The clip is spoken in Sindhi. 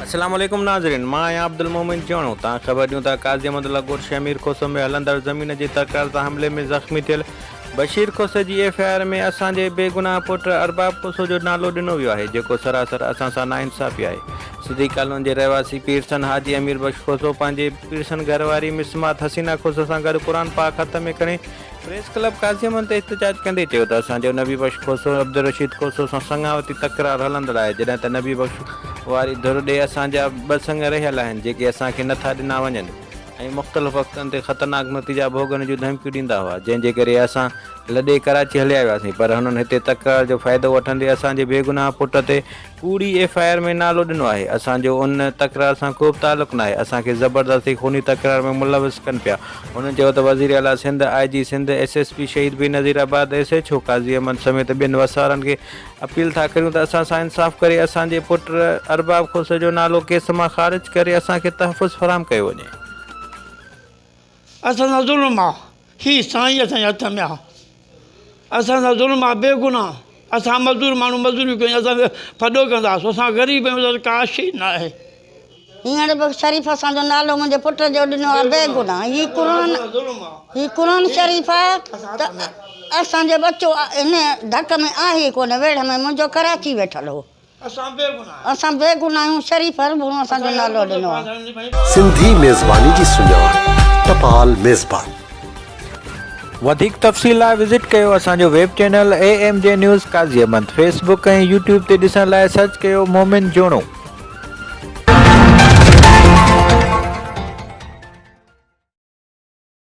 السلام عليڪم ناظرين مان آهيان عبدالمومن جوڻو تان خبر ڏيون ٿا قاضي احمد الله گوٺ شيخ مير کوسو ۾ هلندڙ زمين جي تڪرار سان حملي ۾ زخمي ٿيل بشير کوسي جي ايف آء آر ۾ اسان جي بيگناهه پٽ ارباب کوسو جو نالو ڏنو ويو آهي جيڪو سراسر اسان سان ناانصافي آهي سڌي ڪالون جي رهواسي پيرسن حاجي امير بخش کوسو پنهنجي پيرسن گهر واري مسمات حسينا کوسو سان گڏ قرآن پاڪ هٿ ۾ کڻي پريس ڪلب قاضي امن تي احتجاج ڪندي چيو ته اسان جو نبي بخش کوسو عبدالرشيد کوسو سان سڱاوتي تڪرار هلندڙ آهي جڏهن ته نبي بخش واري ڌر ڏي اسان جا ٻه سڱ رهيل آهن جيڪي اسان کي نٿا ڏنا وڃن ۽ مختلف وقتن تي خطرناڪ نتيجا ڀوڳڻ جون ڌمڪيون ڏيندا هئا جنهن جي ڪري اسان لڏي ڪراچي هليا وياسين پر هنن هتي تڪرار جو فائدو وٺندي اسان جي بيگناهه پٽ تي ڪوڙي ايف آء آر ۾ نالو ڏنو آهي اسان جو ان تڪرار سان ڪوبه تعلق ناهي اسان کي زبردستي خوني تڪرار ۾ ملوث ڪن پيا هن چيو ته وزير اعليٰ Sindh I G Sindh S S P Shaheed Benazirabad S H O Qazi Ahmed سميت ٻين وسارن کي اپيل ٿا ڪريون ته اسان سان انصاف ڪري اسان جي پٽ ارباب کوسه جو نالو ڪيس مان خارج ڪري اسان کي تحفظ فراهم ڪيو وڃي. اسان سان ظلم آ هي سائين اسان جي هٿ ۾ آ اسان سان ظلم آ بي گناهه اسان مزدور ماڻهو مزدوريون ڪيون اسان کي ڦڏو ڪندا آسو اسان غريب آهيون اسان ڪاش ئي ناهي. هينئر به شريف اسان جو نالو منهنجي پٽ جو ڏنو آ بي گناهه هي قرآن هي قرآن شريف آ ته اسان جو ٻچو هن ڌڪ ۾ آهي ڪونه ويڙهه ۾ منهنجو ڪراچي ويٺل هو. اسان بي گناھ آهيون. اسان بي گناھ آهيون شريف هر ڀونو اسان جو نالو ڏنو آهي. سنڌي ميزباني جي سڃاڻ ٽپال ميزبان. وڌيڪ تفصيل لاء وزٽ ڪيو اسان جو web channel A M G news Qazi Ahmed Facebook ۽ YouTube تي ڏسڻ لاء سرچ ڪيو مومن جوڻو.